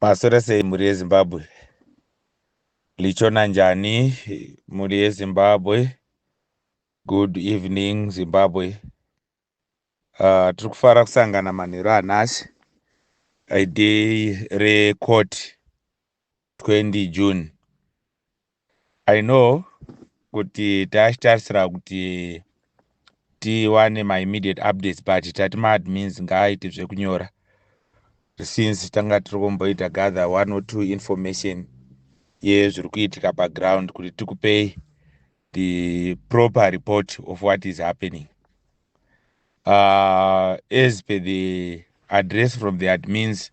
Maswera sei mhuri yeZimbabwe? Lichona njani mhuri yeZimbabwe? Good evening Zimbabwe. Uh, tiri kufara kusangana manheru anhasi idei recourt 20 june i know kuti taachitarisira kuti tiwane maimmediate updates but tati maadmins ngaaite zvekunyora since tanga tiri kumboita gather one or two information yezviri kuitika paground kuti tikupei the proper report of what is happening uh, as per the address from the admins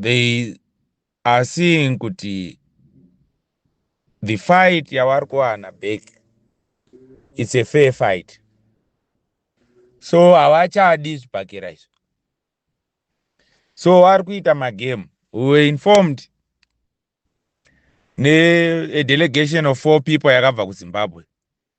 they are seeing kuti the fight yavari kuwana back it's a fair fight so havachadi zvibhakera izvo so vari kuita magame we were informed nedelegation of four people yakabva kuzimbabwe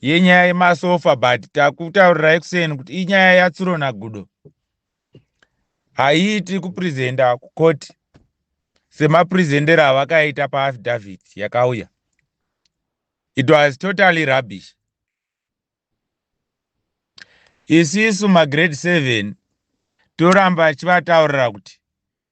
yenyaya yemasofa but takutaurirai kuseni kuti inyaya yatsuro nagudo haiiti kupresenta kukoti semapresentero avakaita paaffidavit yakauya it was totally rubbish isisu magrade seven toramba chivataurira kuti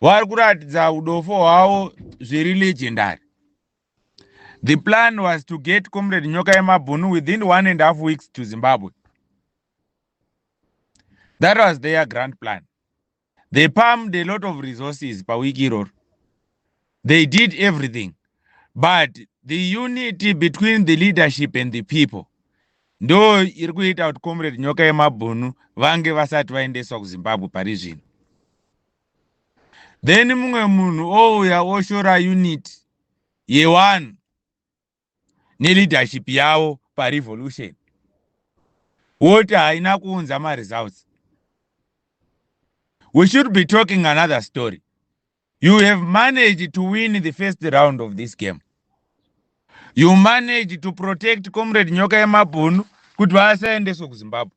vari kuratidza udofo hwavo zviri legendary the plan was to get comrade nyoka yemabhunu within one and half weeks to zimbabwe that was their grand plan they palmed a lot of resources pawiki iroro They did everything but the unity between the leadership and the people ndo iri kuita kuti comrade nyoka yemabhunu vange vasati vaendeswa kuzimbabwe pari zvino then mumwe munhu ouya oshora unit yewanhu neleadership yavo parevolution woti haina kuunza maresults we should be talking another story you have managed to win the first round of this game you managed to protect comrade nyoka yemabhunu kuti vasaendeswe kuzimbabwe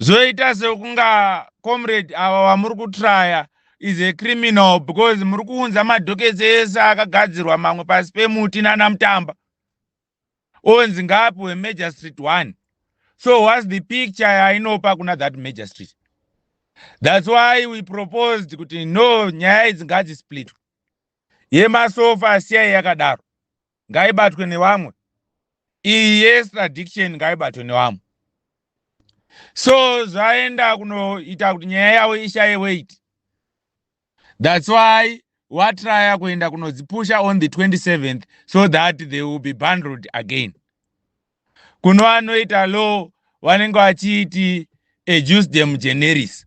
zvoita sekunga comrade ava vamuri kutraya is a criminal because muri kuunza madhoketsi ese akagadzirwa mamwe pasi pemuti nana mutamba onzi ngapi wemajor street one so whats the picture yainopa kuna that major street thats why we proposed kuti no nyaya idzi ngadzisplitwe yemasofa siyai yakadaro ngaibatwe nevamwe iyi yeextradiction ngaibatwe nevamwe so zvaenda kunoita kuti nyaya yavo ishaye weight that's why watraya kuenda kunodzipusha on the 27th so that they will be bundled again kuno anoita law vanenge vachiti ejusdem generis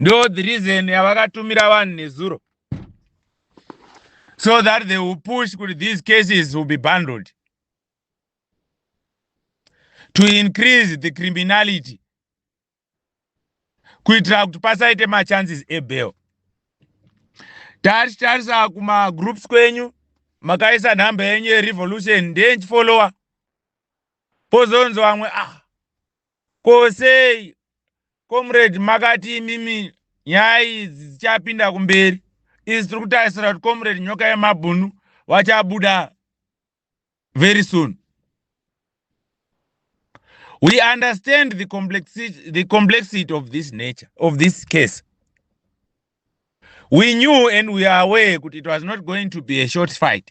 ndo the reason yavakatumira vanhu nezuro so that they will push kuti these cases will be bundled to increase the criminality kuitira kuti pasaite machances ebail tatitarisa kumagroups kwenyu makaisa nhamba yenyu yerevolution ndenchifollowa Pozonzi vamwe ah ko sei comrade makati imimi nyaya idzi dzichapinda kumberi isu tiri kutarisira kuti comrade nyoka yemabhunu vachabuda very soon we understand the complexity, the complexity of this nature of this case we knew and we are aware kuti it was not going to be a short fight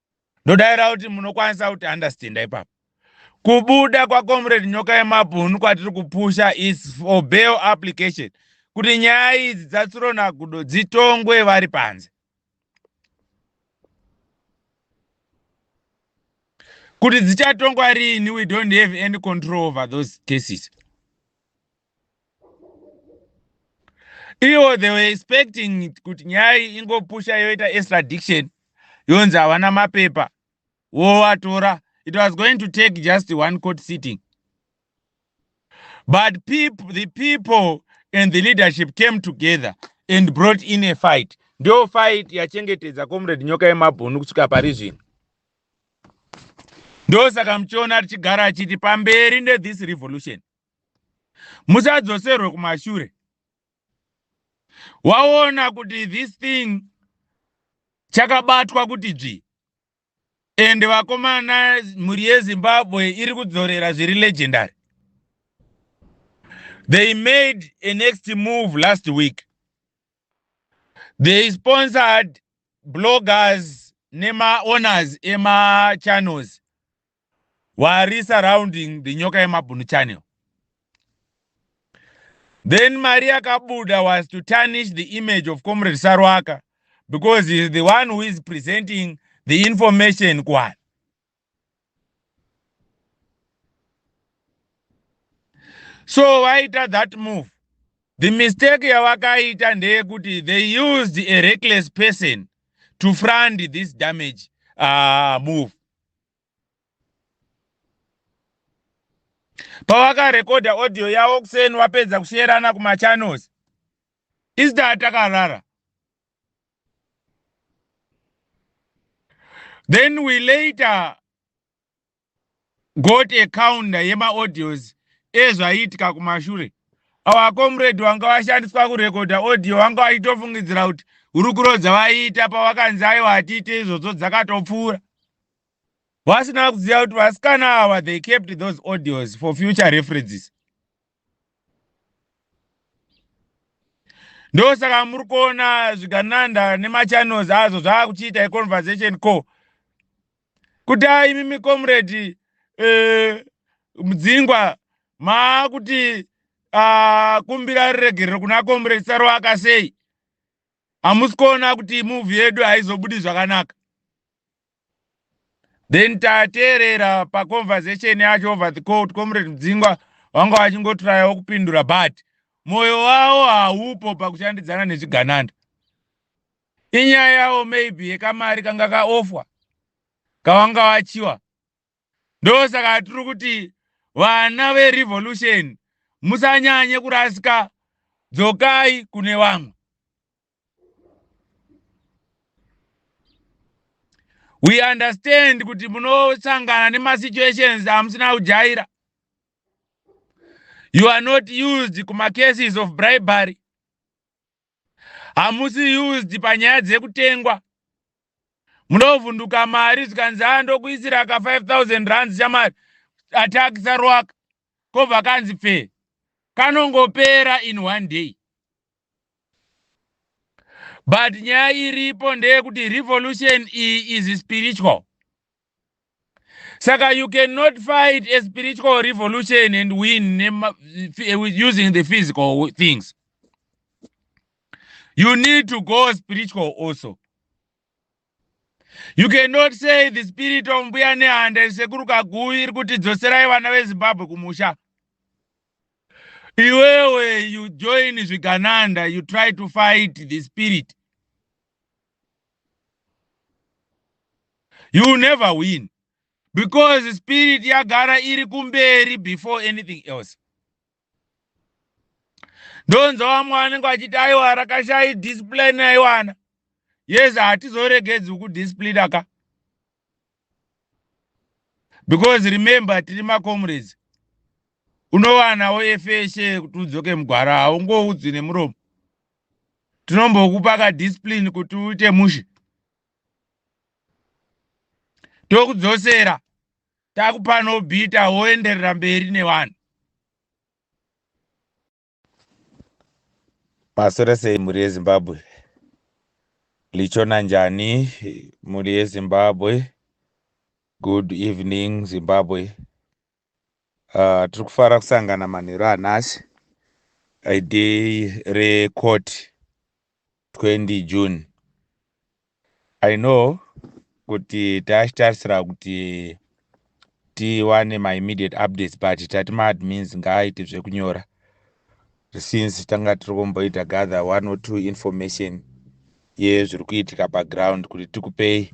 ndodaira kuti munokwanisa kuti understanda ipapo kubuda kwacomrade nyoka yemabhunu kwatiri kupusha is for bail application kuti nyaya idzi dzatsironagudo dzitongwe vari panze kuti dzichatongwa riini we don't have any control over those cases ivo they were expecting kuti nyaya iyi ingopusha yoita extradiction yonzi havana mapepa wovatora it was going to take just one court sitting but people, the people and the leadership came together and brought in a fight ndo fight yachengetedza comrade nyoka yemabhunu kusvika pari zvino ndosaka muchiona tichigara achiti pamberi nethis revolution musadzoserwe kumashure waona kuti this thing chakabatwa kuti dzvi and vakomana mhuri yezimbabwe iri kudzorera zviri legendary they made a next move last week they sponsored bloggers nemaowners emachannels wari surrounding the nyoka yemabhunu channel then mari yakabuda was to tarnish the image of comrade sarwaka because he is the one who is presenting the information kuvanhu so vaita that move the mistake yavakaita ndeyekuti they used a reckless person to frund this damage uh, move pawakarekodha audio yavo kuseni wapedza kusherana kumachannels isita takarara then we later got a counter yemaaudios ezvaiitika kumashure awa comrade wanga washandiswa kurekodha audio wanga waitofungidzira kuti hurukuro dzavaiita pawakanzi aiwa hatiite izvozvo dzakatopfuura vasina kuziva kuti vasikana ava they kept those audios for future references ndosaka muri kuona zvigananda nemachannels azvo zvaakuchiita econversation co kuti a imi micomrade uh, eh, mudzingwa maakuti uh, kumbira riregerero kuna comrade saroaka sei hamusi kuona kuti muvhi yedu haizobudi zvakanaka then tateerera paconversation yacho over the court comrade dzingwa vanga vachingotrayawo kupindura but mwoyo wavo haupo pakushandidzana nezvigananda inyaya yavo maybe yekamari kanga kaofwa kavanga vachiwa ndosaka tiri kuti vana verevolution musanyanye kurasika dzokai kune vamwe we understand kuti munosangana nemasituations amusina kujaira you are not used kumacases of bribery hamusi used panyaya dzekutengwa munovhunduka mari zvikanzi a ndokuisira ka 5000 rands chamari atakisa roaka kobva kanzi pfee kanongopera in one day but nyaya iripo ndeyekuti revolution iyi is spiritual saka you cannot fight a spiritual revolution and win using the physical things you need to go spiritual also you cannot say the spirit of mbuya nehanda isekuru kaguvi iri kuti dzoserai vana vezimbabwe kumusha iwewe you join zvigananda you try to fight the spirit you never win because spirit yagara iri kumberi before anything else ndonzwa vamwe vanenge vachiti aiwa rakashai discipline aiwana yes hatizoregedzi kudisciplina ka because remember tiri macomrades unovanawo efeshe kuti udzoke mugwara haungoudzwi nemuromo tinombokupa ka discipline kuti uite mushe tokudzosera takupa no bita woenderera mberi nevanhu maswera sei mhuri yezimbabwe lichona njani mhuri yezimbabwe good evening zimbabwe Uh, tiri kufara kusangana manheru anhasi idei recourt 20 june i know kuti taachitarisira kuti tiwane maimmediate updates but tati maadmins ngaaite zvekunyora since tanga tiri kumboita gather one or two information yezviri kuitika paground kuti tikupei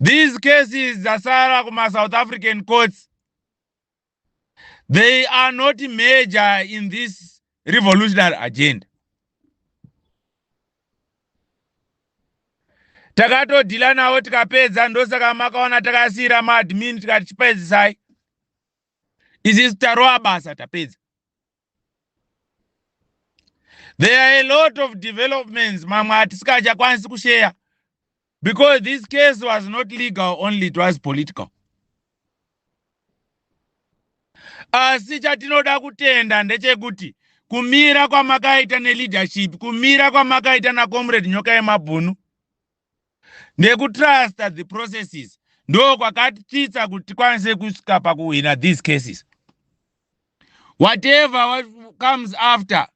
These cases dzasara kuma South African courts they are not major in this revolutionary agenda. Takatodhila nawo tikapedza, ndosaka makaona takasiira maadmin tikati chipedzisai. Izizi tarowa basa tapedza. there are a lot of developments mamwe atisingachakwanisi kusheya because this case was not legal only it was political asi chatinoda kutenda ndechekuti kumira kwamakaita neleadership kumira kwamakaita nacomrade nyoka yemabhunu nekutrusta the processes ndo kwakatitsa kuti tikwanise kusvika pakuhwina these cases whatever what comes after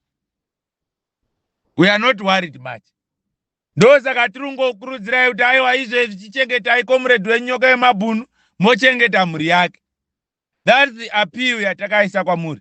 we are not worried much ndosaka tiri kungokurudzirai kuti aiwa izvezvi chichengetai komuredhi wenyoka yemabhunu mochengeta mhuri yake thats the appeal yatakaisa kwamuri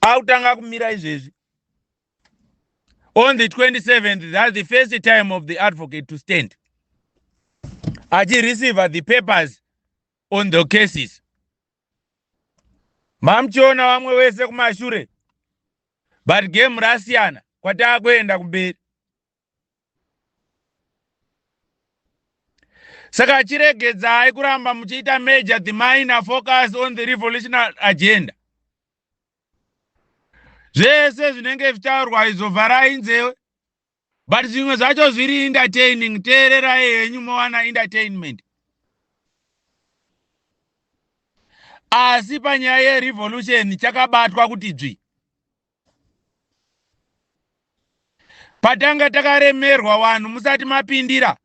akutanga kumira izvezvi on the 27th that's the first time of the advocate to stand achireceive the papers on the cases mamuchiona vamwe vese kumashure but game rasiyana kwataakuenda kumberi saka chiregedzai kuramba muchiita major the minor focus on the revolutionary agenda zvese zvinenge zvichitaurwa izvo vharai nzewe but zvimwe zvacho zviri entertaining teererai henyu mowana entertainment asi panyaya yerevolution chakabatwa kuti dzvi patanga takaremerwa vanhu musati mapindira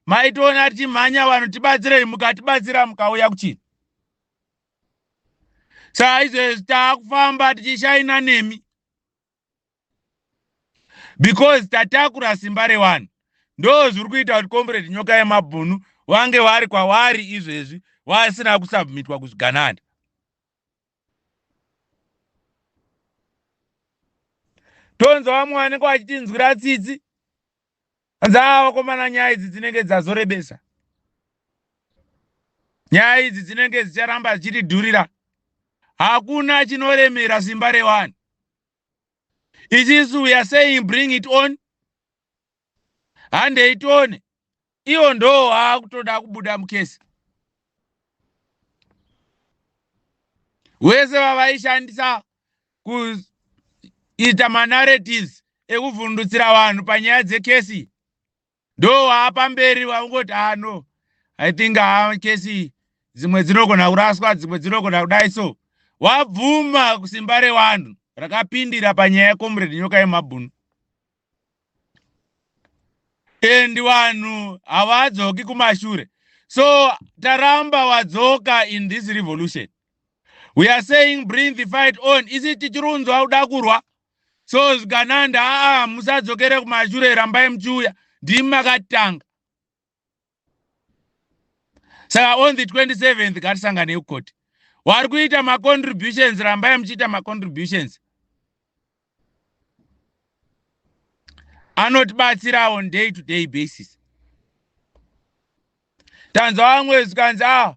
maitoona tichimhanya vanhu tibatsirei mukatibatsira mukauya kuchii saa izvezvi taakufamba tichishaina nemi because tatakura simba revanhu ndo zviri kuita kuti comrade nyoka yemabhunu vange vari kwavari izvezvi vasina kusubmitwa kuzvigananda tonzwa vamwe vanenge vachitinzwira tsitsi anzi aa vakomana nyaya idzi dzinenge dzazorebesa nyaya idzi dzinenge dzicharamba dzichitidhurira hakuna chinoremera simba revanhu ichisu we are saying bring it on handei tione iwo ndoo akutoda kubuda mukesi wese vavaishandisa kuita manarratives ekuvhundutsira vanhu panyaya dzekesi ndoo waapamberi waungoti ano ah, i think haa ah, kesi dzimwe dzinogona kuraswa dzimwe dzinogona kudai so wabvuma kusimba rewanhu rakapindira panyaya yecomrade nyoka yemabhunu and vanhu havadzoki kumashure so taramba wadzoka in this revolution we are saying bring the fight on isi tichirunzwa kuda kurwa so zvikananda aa musadzokere kumashure rambai muchiuya ndimi makatanga saka on the 27th ngatisanganei kukoti wari kuita macontributions rambai muchiita macontributions anotibatsira on day to day basis tanzwa vamwe zvikanzi a ah,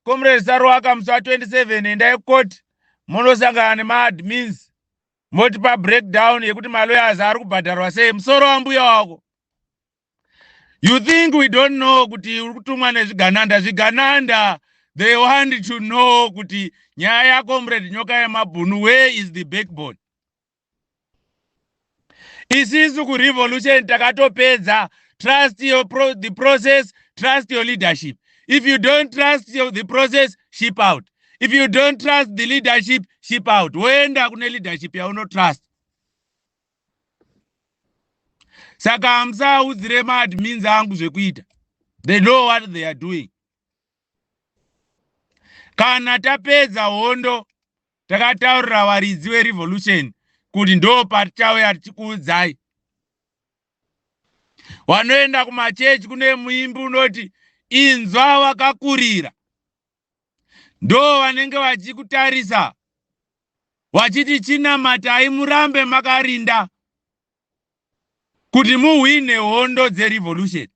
comrade saruwaka musi wa 27 endai kukoti monosangana nemaadmins motipa breakdown yekuti maloyers ari kubhadharwa sei musoro wambuya wako you think we don't know kuti uri kutumwa nezvigananda zvigananda they want to know kuti nyaya yacomrade nyoka yemabhunu where is the backbone isisu kurevolution takatopedza trust your pro, the process trust your leadership if you don't trust your, the process ship out if you don't trust the leadership ship out woenda kune leadership yaunotrust saka hamusaudzire maadmins angu zvekuita they know what they are doing kana tapedza hondo takataurira varidzi verevolution kuti ndo patichauya tichikuudzai wanoenda kumachechi kune muimbi unoti inzwa wakakurira ndo vanenge vachikutarisa vachiti chinamatai murambe makarinda kuti muhwine hondo dzerevolution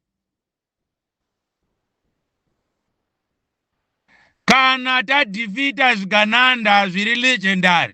kana tadhifita zvigananda zviri legendary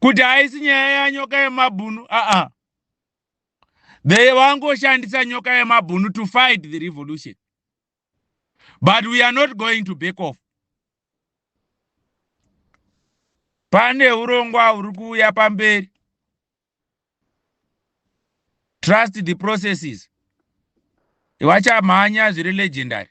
kuti haisi nyaya yanyoka yemabhunu aa they vangoshandisa nyoka yemabhunu to fight the revolution but we are not going to back off pane urongwa huri kuuya pamberi trust the processes vachamhanya zviri legendary